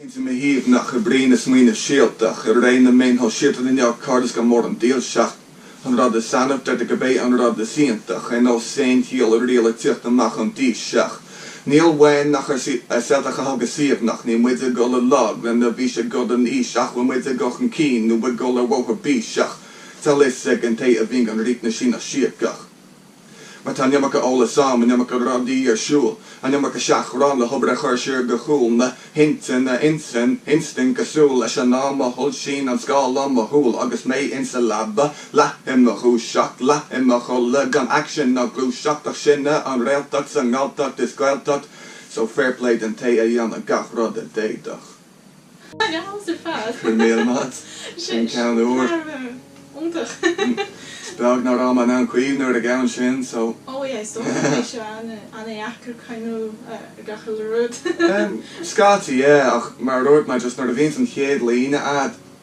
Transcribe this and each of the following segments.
Intinn shuaimhneach oibríonn smaoineamh síoltach. I ré na meáin shóisialta inniu cairdeas go mór an dílseacht. An rud is annamh deirtear gurb é an rud is iontach. Ar nós aon chiall i riail ag tíocht amach ón dTaoiseach. Níl uainn ach ár seasamh a thógáil suaimhneach. Níl muid ag dul i lag le na bhfís i gcoir don fhís ach bhfuil muid ag dul chun cinn nó ag dul ar bhóthar bíseach. Tá fhios ag an té a bhíonn gan rith na síneadh síogach. Mar tá an iomarca eolais ann, an iomarca rudaí ar siúl, an iomarca seachrán le hobair a chur siar go chúl, na hintinne, intinn, instinct cosúil leis an am a shoilsíonn an scáileán mo shúl agus mé ins a leaba, leath i mo dhúiseacht, leath i mo chodladh, gan aicsean ná gluaiseacht ach sin é an réaltacht sa nGalltacht is Gaeltacht, so fair play den té a dhéanadh gach rud a d'fhéadfadh. Go raibh míle maith a'd. Sin ceann úr. Is beag ná raibh mé in ann cuimhneamh ar an gceann sin so. Scaití, yeah, ach mar a dúirt mé, just nuair a bhíonns an chéad líne a'd,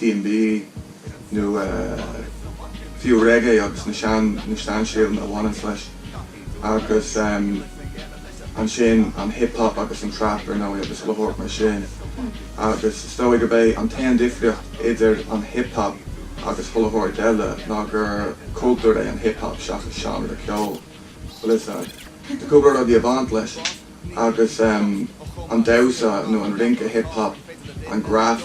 DnB, nó fiú reggae agus na sean na seanstíleanna a bhaineanns leis. Agus ansin an hip hop agus an trap ar ndóigh agus chuile shórt mar sin. Agus is dóigh gurb é an t-aon difríocht idir an hip hop agus chuile shórt eile ná gur cultúr é an hip hop seachas seánra ceoil. Bhuel is ea, tá cúpla rudaí a bhaint leis. Agus an damhsa nó an rince hip hop, an graf,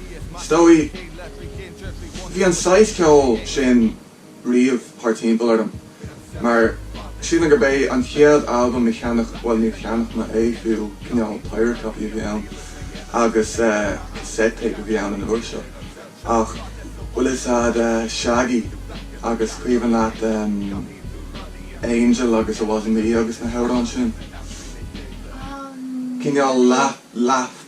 Is dóigh, bhí an saghas ceoil sin riamh thart timpeall orm, mar sílim gur b'é an chéad albam a cheannach, bhuel níor cheannach mé é fiú, cineál pirate copy a bhí ann, agus cassette tape a bhí ann an uair seo, ach bhfuil a fhios a'd Shaggy agus cuimhin leat Angel agus It Wasn't Me agus na hamhráin sin, cineál leath, leath.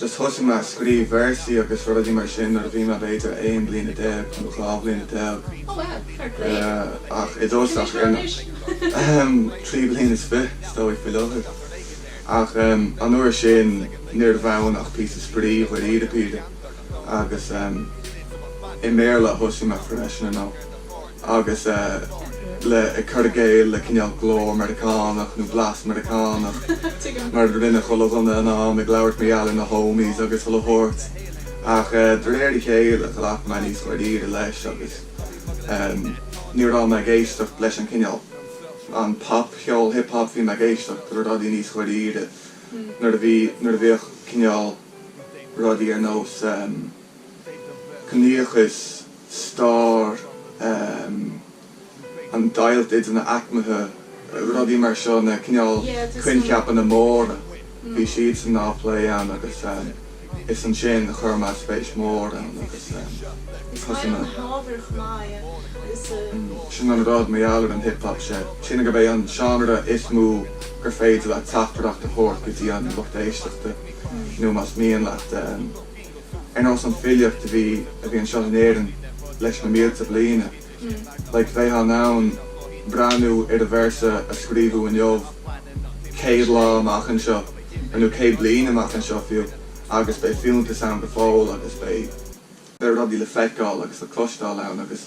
Just thosaigh mé a scríobh véarsaí agus rudaí mar sin nuair a bhí mé b'fhéidir aon bliana déag nó dhá bhliana déag. Oh wow, fair play. Ach i dtosach, ar na, ahem, trí bliana is fiche is dóigh faoi láthair. Ach ehm, an uair sin níorbh ann ach píosa spraoi dháiríre píre. Agus ehm, i mBéarla a thosaigh mé freisin, you know. agus uilig ag cur i gcéill le cineál glór Meiriceánach nó blas Meiriceánach, mar a rinne chuile dhuine ag an am, ag labhairt mar gheall ar na homies agus chuile shórt. Ach de réir a chéile, ghlac mé níos dáiríre leis agus ní raibh mé ag éisteacht leis an cineál, an pop cheol, hip hop, bhí mé ag éisteacht le rudaí níos dáiríre nuair a bhí, nuair a bhíodh cineál rudaí ar nós. ciníochas, stair, an deighilt idir na haicmithe, rudaí mar seo, na cineál coincheapanna móra, bhí siad sin á bplé ann agus is ansin a chuir mé spéis mór ann agus thosaigh mé. Sin an rud, mar gheall ar an hip hop, sé sin gurb é an seánra is mó gur féidir leat teachtaireacht a thabhairt go dtí an lucht éisteachta nó más mian leat, Ar nós an filíocht a bhí a bhí anseo in Éirinn leis na mílte bliana, like bheifeá in ann breathnú ar an véarsa a scríobhadh inniu céad lá amach anseo, nó céad bliain amach anseo fiú, agus beidh fiúntas ann go fóill agus beidh beidh rudaí le feiceáil agus le cloisteáil ann agus.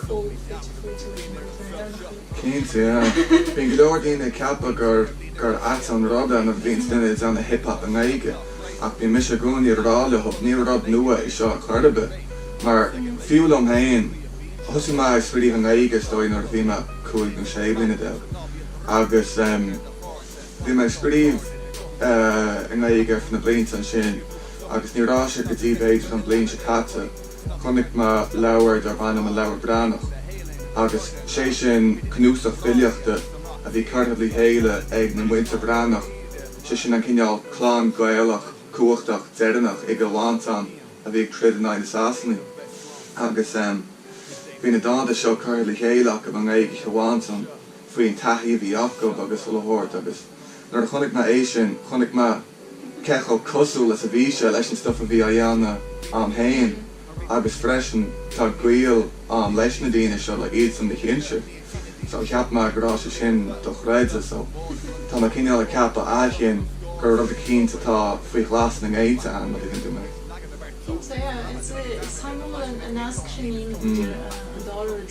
cóip duit faoi tú ag imirt na hÉireannach í. Cinnte, yeah. Bíonn go leor daoine ag ceapadh gur, gur ait an rud é nuair a bhíonns duine ag déanamh hip hop i nGaeilge, ach bíonn mise i gcónaí ag rá leo, ní rud nua é seo ar chor ar bith. Mar, fiú liom féin, thosaigh mé ag scríobh i nGaeilge is dóigh nuair a bhí mé cúig nó sé bliana déag, agus em bhí mé ag scríobh eh i nGaeilge ar feadh na mblianta ansin agus ní raibh sé go dtí b'fhéidir an bhliain seo caite, Chonaic mé leabhar darb ainm An Leabhar Branach agus sé sin cnuasach filíochta a bhí curtha le chéile ag na Muintir Branach, sé sin an cineál clann Gaelach cumhachtach deireannach i gCill Mhantáin a bhí ag troid in aghaidh na Sasanaigh. Agus bhí na dánta seo curtha le chéile acu i nGaeilge Chill Mhantáin faoin taithí a bhí acu agus a leithéid agus nuair a chonaic mé é sin chonaic mé cé chomh cosúil is a bhí sé leis an stuif a bhí á dhéanamh a'm fhéin agus freisin tá gaol a'm leis na daoine seo like iadsan mo shinsir so cheap mé go raibh sé sin dochreidte so tá mé cineál ag ceapadh ó shin gur rud eicínt atá faoi ghlas sna géinte a'm an dtuigeann tú mé. Cinnte yeah it's a is taitneamhal an an nasc sin idir an dá rud.